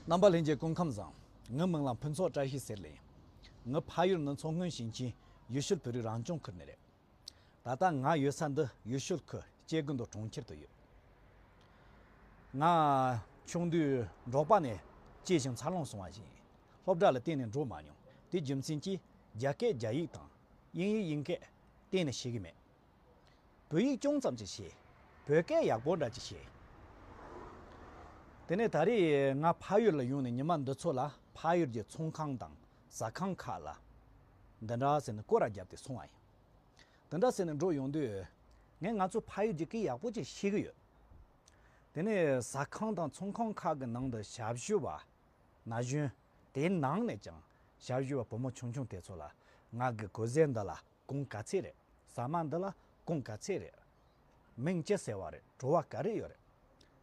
རྣམ་པ་ལྷན་སྐྱེས་ཀུན་ཁམས་བཟང། ངའི་མིང་ལ་ཕུན་ཚོགས་བཀྲ་ཤིས་ཟེར། ལན། ངའི་ཕ་ཡུལ་ནི་མཚོ་སྔོན་ཞིང་ཆེན་ཡུལ་ཤུལ་བོད་རིགས་རང་སྐྱོང་ཁུལ་ནས་རེད། ད་ལྟ་ང་ཡོད་ས་འདི་ཡུལ་ཤུལ་ཁུལ་སྐྱེ་རྒུ་མདོ་གྲོང་ཁྱེར་དུ་ཡོད། ང་ཆུང་དུས་འབྲོག་པ་ནས་སྐྱེས་ཤིང་འཚར་ལོངས་སོང་བ་ཞིག་ཡིན། སློབ་གྲྭ་ལ་གཏན་ནས་འགྲོ་མ་མྱོང། དེའི་རྒྱུ་མཚན་གྱིས་རྒྱ་སྐད་རྒྱ་ཡིག་དང་དབྱིན་ཡིག་དབྱིན་སྐད་གཏན་ནས་ཤེས་ཀྱི་མེད། བོད་ཡིག་ཅུང་ཙམ་ཅིག་ཤེས། བོད་སྐད་ཡག་པོ་འདྲ་ཅིག་ཤེས། དེ་ནས་ད་རེས་ང་ཕ་ཡུལ་ལ་ཡོང་ནས་ཉི་མ་འདི་ཚོ་ལ་ཕ་ཡུལ་གྱི་ཚོང་ཁང་དང་ཟ་ཁང་ཁག་ལ་འདི་འདྲ་ཟེར་ནས་སྐོར་ར་བརྒྱབ་སྟེ་སོང་བ་ཡིན། དེ་འདྲ་ཟེར་ནས་འགྲོ་ཡོང་དུས། ངས་ང་ཚོའི་ཕ་ཡུལ་གྱི་སྐད་ཡག་པོ་ཅིག་ཤེས་ཀྱི་ཡོད། དེ་ནས་ཟ་ཁང་དང་ཚོང་ཁང་ཁག་གི་ནང་དུ་ཞབས་ཞུ་བ། ན་གཞོན། དེའི་ནང་ནས་ཀྱང་ཞབས་ཞུ་བ་བུ་མོ་ཆུང་ཆུང་དེ་ཚོ་ལ་ང་གི་གོ་གཟན་འདི་ལ་གོང་ག་ཚད་རེད་ཟ་མ་འདི་ལ་གོང་ག་ཚད་རེད། མིང་ཅི་ཟེར་བ་རེད་བྲོ་བ་ག་རེ་ཡོད་རེད་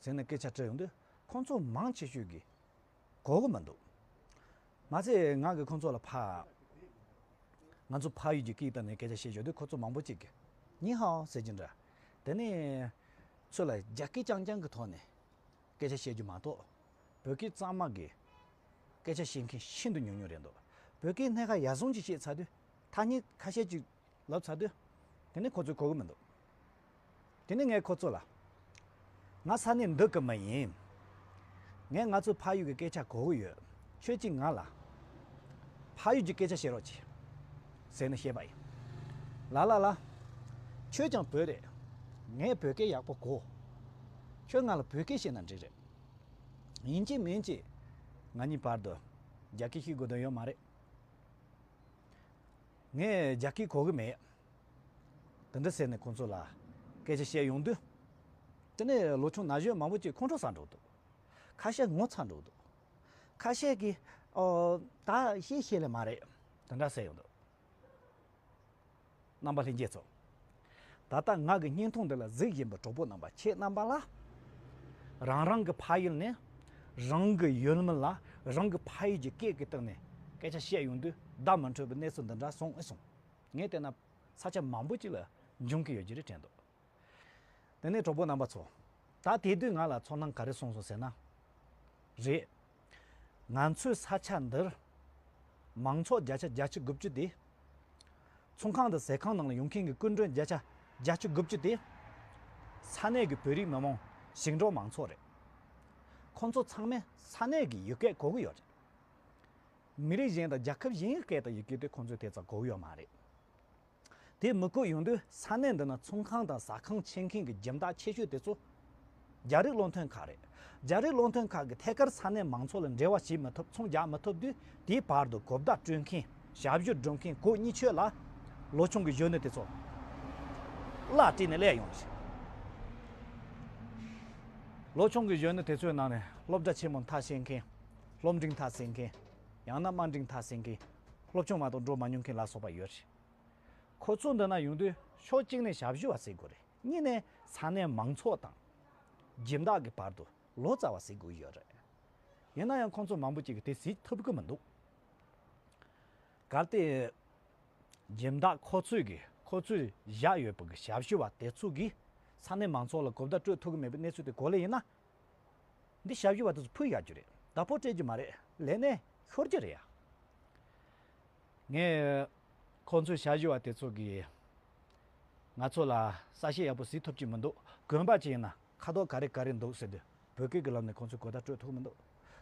ཟེར་ནས་སྐད་ཆ་དྲི་ཡོང་དུས་ཁོང་ཚོ་མང་ཆེ་ཤོས་ཀྱིས་གོ་གི་མི་འདུག་མ་ཚད་ང་གིས་ཁོང་ཚོ་ལ་ཕ། ང་ཚོ་ཕ་ཡུལ་གྱི་སྐད་བཏགས་ནས་སྐད་ཆ་བཤད་ཞོར་དུ་ཁོ་ཚོ་མང་པོ་ཅིག་གིས་ནི་ཧའོ་ཟེར་གྱི་འདྲ། དེ་ནས་ཚོད་ལ་རྒྱ་སྐད་རྐྱང་རྐྱང་གི་ཐོག་ནས་སྐད་ཆ་བཤད་རྒྱུ་མ་གཏོགས་བོད་སྐད་གཙང་མ་གིས་སྐད་ཆ་བཤད་མཁན་ཤིན་ཏུ་ཉུང་ཉུང་རེད་འདུག་བོད་སྐད་སྣེ་ཁ་ཡར་སོང་ཅིག་བཤད་ཚར་དུས་ཐ་སྙད་ཁ་ཤས་ཅིག་ལབ་ཚར་དུས། དེ་ནི་ཁོ་ཚོས་གོ་གི་མི་འདུག། དེ་ནི་ངས་ཁོ་ཚོ་ལ། ང་ས་གནས་འདི་གི་མི་ཡིན། ངས་ང་ཚོའི་ཕ་ཡུལ་གྱི་སྐད་ཆ་གོ་གི་ཡོད། ཁྱོད་ཀྱིས་ང་ལ། ཕ་ཡུལ་གྱི་སྐད་ཆ་བཤད་རོགས་གྱིས། ཟེར་ནས་བཤད་པ་ཡིན། ལ་ལ་ལ། ཁྱོད་ཀྱང་བོད་རེད། ངས་བོད་སྐད་ཡག་པོ་གོ། ཁྱོད་ང་ལ་བོད་སྐད་བཤད་ན་འགྲིག་རེད། ཡིན་གྱི་མིན་གྱི། ང་གཉིས་བར་དུ། རྒྱ་སྐད་ཤིག་དགོས་དོན་ཡོད་མ་རེད། ངས་རྒྱ་སྐད་གོ་གི་མེད། དེ་འདྲ་ཟེར་ནས་ཁོང་ཚོ་ལ་སྐད་ཆ་བཤད་ཡོང་དུས། དེ་ནས་ལོ་ཆུང་ན་གཞོན་མང་པོ་གཅིག་ཁོང་ཁྲོ་ཟ་འགྲོ་འདུག་ཁ་ཤས་ངོ་ཚ་འགྲོ་འདུག་ཁ་ཤས་ཀྱིས་ཨོ། ད་ཤེས་ཤེས་ལེ་མ་རེད། དེ་འདྲ་ཟེར་ཡོང་འདུག། རྣམ་པ་ལྷན་སྐྱེས་ཚོགས། ད་ལྟ་ང་གི་སྙིང་ཐུང་འདི་ལ་གཟིགས་བཞིན་པའི་གྲོགས་པོ་རྣམ་པ་ཁྱེད་རྣམ་པ་ལ། རང་རང་གི་ཕ་ཡུལ་ནས་རང་གི་ཡུལ་མི་ལ་རང་གི་ཕ་ཡུལ་གྱི་སྐད་ཀྱི་སྟེང་ནས་སྐད་ཆ་བཤད་ཡོང་དུས་བདག་མི་འཕྲོད་པའི་གནས་ཚུལ་འདི་འདྲ་སོང་ཨེ་སོང། ངས་བལྟས་ན་ས་ཆ་མང་པོ་ཅིག་ལ་འབྱུང་གི་ཡོད་རྒྱུ་རེད་དྲན་འདུག། དེ་ནས་གྲོགས་པོ་རྣམ་པ་ཚོ། ད་དེ་དུས་ང་ལ་ཚོར་སྣང་ག་རེ་སོང་སོང་ཟེར་ན། རེད། ང་ཚོའི་ས་ཆ་འདིར། མང་ཚོགས་བརྒྱ་ཆ་བརྒྱ་ཆ་དགུ་བཅུ་དེ། ཚོང་ཁང་དང་ཟས་ཁང་ནང་ལ་ཡོང་མཁན་གྱི་སྐུ་མགྲོན་བརྒྱ་ཆ་བརྒྱ་ཆ་དགུ་བཅུ་དེ། ས་གནས་ཀྱི་བོད་རིགས་མི་མང་ཞིང་འབྲོག་མང་ཚོགས་རེད། ཁོང་ཚོ་ཚང་མས་ས་གནས་ཀྱི་ཡུལ་སྐད་གོ་གི་ཡོད་རེད། མི་རིགས་གཞན་དང་རྒྱལ་ཁབ་གཞན་གྱི་སྐད་དང་ཡི་གེ་དེ་ཁོང་ཚོས་དེ་ཙམ་གོ་གི་ཡོད་མ་རེད། དེ་མི་དགོས་ཡོང་དུས་ས་གནས་འདི་ན་ཚོང་ཁང་དང་ཟ་ཁང་ཕྱེ་མཁན་གྱི་འཇིམ་བདག་ཆེ་ཤོས་དེ་ཚོ་རྒྱ་རིགས་བློ་འཐོན་ཁག་རེད། རྒྱ་རིགས་བློ་འཐོན་ཁག་གིས་ཐད་ཀར་ས་གནས་མང་ཚོགས་ལ་འབྲེལ་བ་བྱེད་མི་ཐུབ་ཚོང་རྒྱག་མི་ཐུབ་དུས་དེའི་བར་དུ་གོ་བརྡ་སྤྲོད་མཁན་ཞབས་ཞུ་སྒྲུབ་མཁན་གོ་གཉིས་ཆོད་ལ། ལོ་ཆུང་གི་གཞོན་ནུ་དེ་ཚོ་བརླག་བྲིས་ནས་བསླད་ཡོང། ལོ་ཆུང་གི་གཞོན་ནུ་དེ་ཚོའི་ནང་ནས་སློབ་གྲྭ་ཆེན་མོ་མཐར་ཕྱིན་མཁན་སློབ་འབྲིང་མཐར་ཟིན་མཁན་ཡང་ན་དམའ་འབྲིང་མཐར་ཟིན་མཁན་སློབ་ཆུང་མ་གཏོགས་འགྲོ་མ་མྱོང་མཁན་ལ་སོགས་པ་ཡོད་རེད། ཁོ་ཚོ་འདི་ན་ཡོང་དུས་ཕྱོགས་གཅིག་ནས་ཞབས་ཞུ་བ་བསྲེག་དགོས་རེད་གཉིས་ནས་ས་གནས་མང་ཚོགས་དང། སྦྱིན་བདག་གི་བར་དུ་ལོ་ཙཱ་བ་བསྲེག་དགོས་ཀྱི་ཡོད་རེད། ཡིན་ན་ཡང་ཁོང་ཚོ་མང་པོ་ཅིག་གིས་དེ་གཟིགས་ཐུབ་ཀྱི་མི་འདུག་གལ་ཏེ། སྦྱིན་བདག་ཁོ་ཚོས་ཀྱིས་ཁོ་ཚོས་བཞག་ཡོད་པའི་ཞབས་ཞུ་བ་དེ་ཚོ་གིས་ས་གནས་མང་ཚོགས་ལ་གོ་བརྡ་སྤྲོད་ཐུབ་ཀྱི་མེད་པའི་གནས་ཚུལ་དེ་གོ་ལེ་ཡིན་ན། འདི་ཞབས་ཞུ་བ་དེ་ཚོ་ཕུད་ཡག་རྒྱུ་རེད་ད་ཕོ་སྤྲད་རྒྱུ་མ་རེད་ལས་གནས་ཤོར་རྒྱུ་རེད་ཡ། ངས་ཁོང་ཚོའི་ཞབས་ཞུ་བ་དེ་ཚོ་གིས་ང་ཚོ་ལ་ས་ཞེ་ཡག་པོ་ཟིག་ཐོབ་ཀྱི་མི་འདུག་དགོན་པ་ཅིག་ཡིན་ན་ཁ་དོག་ག་རེ་ག་རེ་འདུག་ཟེར་དུས་བོད་སྐད་ཀྱི་ལམ་ནས་ཁོང་ཚོས་གོ་བརྡ་སྤྲོད་ཐུབ་ཀྱི་མི་འདུག་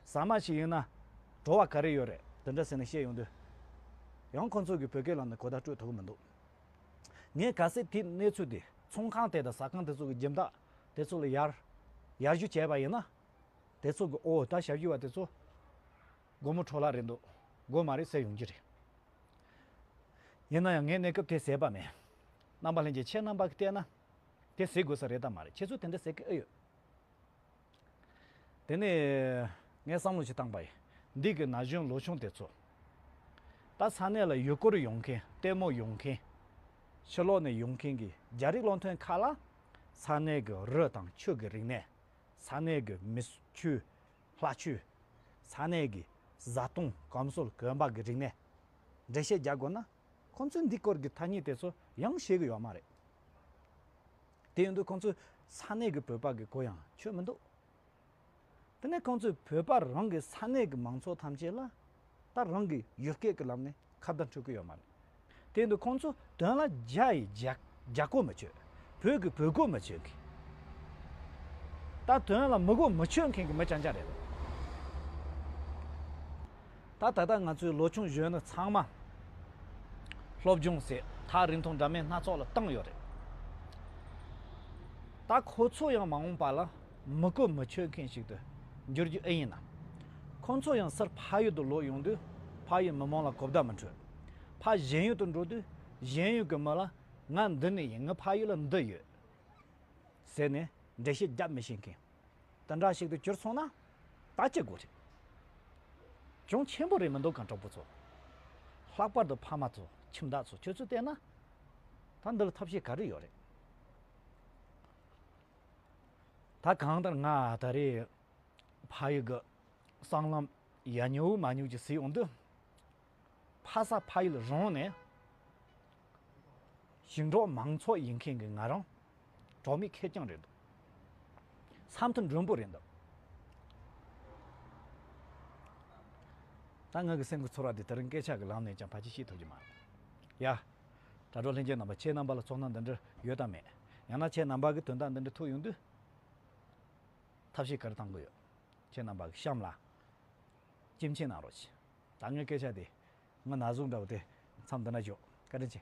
ཟ་མ་ཞིག་ཡིན་ན་བྲོ་བ་ག་རེ་ཡོད་རེད་དེ་འདྲ་ཟེར་ནས་བཤད་ཡོང་དུས་ཡང་ཁོང་ཚོ་གིས་བོད་སྐད་ལམ་ནས་གོ་བརྡ་སྤྲོད་ཐུབ་ཀྱི་མི་འདུག་ངས་ག་ཚད་དེའི་གནས་ཚུལ་དེ་ཚོང་ཁང་དེ་དང་ཟ་ཁང་དེ་ཚོ་གི་འཇིམ་བདག་དེ་ཚོ་ལ་ཡར། ཡར་རྒྱུ་བྱས་པ་ཡིན་ན། དེ་ཚོ་གི་འོ་ད་ཞབས་རྒྱུ་བ་དེ་ཚོ། སྒོར་མོ་འཕྲོ་བརླག་རེད་འདུག་སྒོར་མ་རེད་ཟེར་ཡོང་རྒྱུ་རེད། ཡིན་ན་ཡང་ངས་གནས་སྐབས་དེ་ཟེར་པ་མེད། རྣམ་པ་ལྷན་རྒྱས་ཁྱེད་རྣམ་པ་གིས་བལྟས་ན། དེ་ཟེར་དགོས་ས་རེད་དམ་མ་རེད་ཁྱེད་ཚོས་དེ་འདྲ་ཟེར་གི་ཨེ་ཡོད། དེ་ནས། ངས་བསམ་བློ་ཞིག་བཏང་པ་ཡིན། འདི་གི་ན་གཞོན་ལོ་ཆུང་དེ་ཚོ། ད་ས་གནས་ལ་ཡུལ་སྐོར་ཡོང་མཁན་ལྟད་མོ་ཡོང་མཁན། ཕྱི་ལོགས་ནས་ཡོང་མཁན་གྱི་རྒྱ་རིགས་སློང་ཐོན་ཁག་ལ། ས་གནས་ཀྱི་རི་དང་ཆུ་ཀྱི་རིག་གནས། ས་གནས་ཀྱི་མི་ཆུ། ལྷ་ཆུ། ས་གནས་ཀྱི་བཟའ་བཏུང་སྐམ་སྲོལ་གོན་པ་གྱི་རིག་གནས། འགྲེལ་བཤད་རྒྱག་དགོས་ན་ཁོང་ཚོས་འདི་སྐོར་གྱི་ཐ་སྙད་དེ་ཚོ་ཡང་ཤེས་ཀྱི་ཡོད་མ་རེད། དེ་ཡིན་དུས་ཁོང་ཚོས་ས་གནས་ཀྱི་བོད་པ་གྱི་གོ་ཡང་ཆོད་མི་འདུག། དེ་ནས་ཁོང་ཚོས་བོད་པར་རང་གི་ས་གནས་ཀྱི་མང་ཚོགས་ཐམས་ཅད་ལ། ད་རང་གིས་ཡུལ་སྐད་ཀྱི་ལམ་ནས་ཁ་བརྡ་འཕྲོད་ཀྱི་ཡོད་མ་རེད། དེ་འདུག་ཁོང་ཚོས་དོན་ལ་རྒྱ་ཡིས་རྒྱ་གོ་མི་ཆོད། བོད་ཀྱིས་བོད་གོ་མི་ཆོད་མཁན། ད་དོན་ལ་མི་གོ་མི་ཆོད་མཁན་གྱི་མི་ཅང་ཅང་རེད། ད་ད་ལྟ་ང་ཚོའི་ལོ་ཆུང་གཞོན་ནུ་ཚང་མ། སློབ་སྦྱོང་ཟད་ཐག་རིང་ཐུང་འདྲ་མིན་སྣ་ཚོགས་ལ་བཏང་ཡོད་རེད། ད་ཁོ་ཚོ་ཡང་མ་འོངས་པ་ལ། མི་གོ་མི་ཆོད་མཁན་ཞིག་ཏུ་འགྱུར་རྒྱུ་ཨེ་ཡིན་ནམ། ཁོང་ཚོ་ཡང་སར་ཕ་ཡུལ་དུ་ལོག་ཡོང་དུས་ཕ་ཡུལ་མི་མང་ལ་གོ་བརྡ་མི་འཕྲོད། ཕ་གཞན་ཡུལ་དུ་འགྲོ་དུས་གཞན་ཡུལ་གྱི་མི་ལ་ང་འདི་ནས་ཡིན་ངའི་ཕ་ཡུལ་ལ་འདི་ཡོད། ཟེར་ནས་འགྲེལ་བཤད་རྒྱབ་མི་ཤེས་མཁན་དེ་འདྲ་ཞིག་ཏུ་གྱུར་སོང་ན་ད་སྐྱིད་དགོས་རེད། གྱོང་ཆེན་པོ་རེད་མི་འདུག་གམ་གྲོགས་པོ་ཚོ། ལྷག་པར་དུ་ཕ་མ་ཚོ་ཁྱིམ་བདག་ཚོ་ཁྱོད་ཚོས་བལྟས་ན་ད་འདི་ལ་ཐབས་ཤེས་ག་རེ་ཡོད་རེད། ད་གང་ལྟར་ང་ད་རེས་ཕ་ཡུལ་གྱི་སྲང་ལམ་ཡ་ཉུག་མ་ཉུག་ཅིག་བཟི་འོང་དུས། ཕ་ས་ཕ་ཡུལ་རང་ནས་ཞིང་འབྲོག་མང་ཚོགས་ཡིན་མཁན་གྱི་ང་རང་གྲོགས་མེད་ཁེར་རྐྱང་རེད་འདུག་ས་མཐོ་མགྲོན་པོ་རེད་འདུག་ད་ང་གི་སེམས་ཀྱི་ཚོར་བ་དེ་དེ་རིང་སྐད་ཆ་གྱི་ལམ་ནས་ཀྱང་ཕ་གཅིག་ཤེས་ཐུབ་ཀྱི་མ་རེད་ཡ། དྲ་གྲོགས་ལྷན་རྒྱས་རྣམ་པ་ཁྱེད་རྣམ་པ་ལ་ཚོགས་སྣང་འདི་འདྲ་ཡོད་དམ་མེད། ཡང་ན་ཁྱེད་རྣམ་པ་གི་དོན་དག་འདི་འདྲ་ཐུག་ཡོང་དུས། ཐབས་ཤེས་གར་བཏང་གི་ཡོད། ཁྱེད་རྣམ་པ་གི་གཤམ་ལ་སྐྱེམས་མཆན་གནང་རོགས་གྱིས། ད་ངའི་སྐད་ཆ་དེ་ང་ན་ཟུག་འདྲ་བོ་དེ་མཚམས་འདི་ན་འཇོག་བཀའ་དྲིན་ཆེ།